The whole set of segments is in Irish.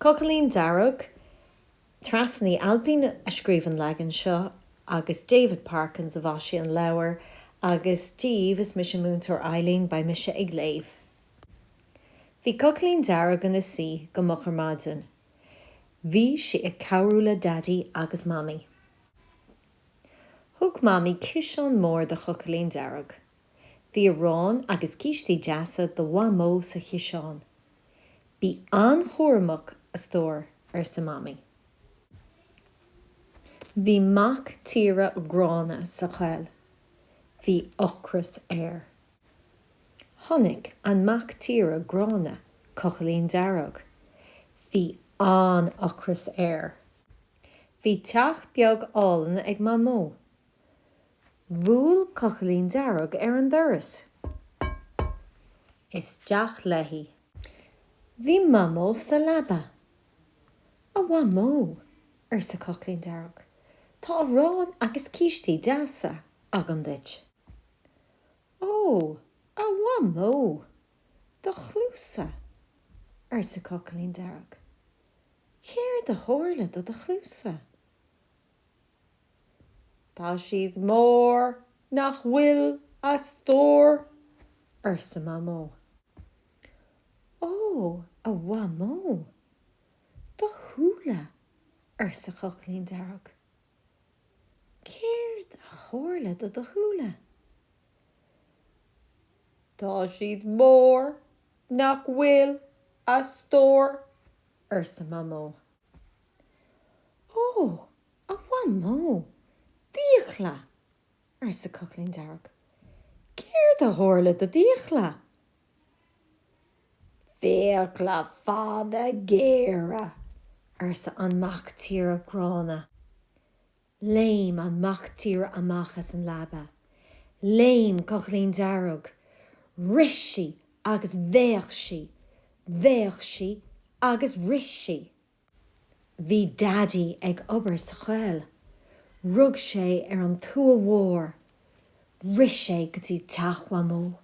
Cochaillín Dearg, Treasa Ní Ailpín a scríobh an leagan seo agus David Parkins a mhaisigh an leabhar agus Dia daoibh is mise Múinteoir Eileen beidh mise ag léamh. Bhí Cochaillín Dearg ina suí go moch ar maidin. Bhí sí ag cabhrú le Daidí agus Mamaí. Thug Mamaí ciseán mór do Chochaillín Dearg. Bhí arán agus cístí deasa do Mhamó sa chiseán. Bí an-chúramach, a stór, arsa Mamaí. Bhí mac tíre gránna sa choill. Bhí ocras air. Chonaic an mac tíre gránna Cochaillín Dearg. Bhí an-ocras air. Bhí teach beag álainn ag Mamó. Bhuail Cochaillín Dearg ar an doras. Isteach léi. Bhí Mamó sa leaba. A Mhamó, arsa Cochaillín Dearg, tá arán agus cístí deasa agam duit. Ó, a Mhamó, do chluasa, arsa Cochaillín Dearg. Céard a tharla do do chluasa? Tá siad mór nach bhfuil a stór, arsa Mamó. Ó, a Mhamó, do shúile, arsa Cochaillín Dearg. Céard a tharla do do shúile? Tá siad mór nach bhfuil a stór, arsa Mamó. Ó, a Mhamó, d'fhiacla! arsa Cochaillín Dearg. Céard a tharla do d'fhiacla? Fiacla fada géara! arsa an mac tíre gránna. Léim an mac tíre amach as an leaba. Léim Cochaillín Dearg. Rith sí agus bhéic sí, bhéic sí agus rith sí. Bhí Daidí ag obair sa choill. Rug sé ar an tua mhór. Rith sé go dtí teach Mhamó.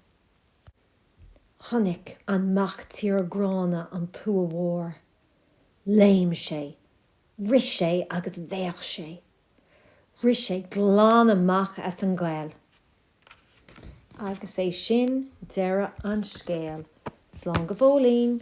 Chonaic an mac tíre gránna an tua mhór. Léim sé Rith sé agus bhéic sé. Rith sé glan amach as an gcoill. Agus é sin deireadh an scéil. Slán go fóillín.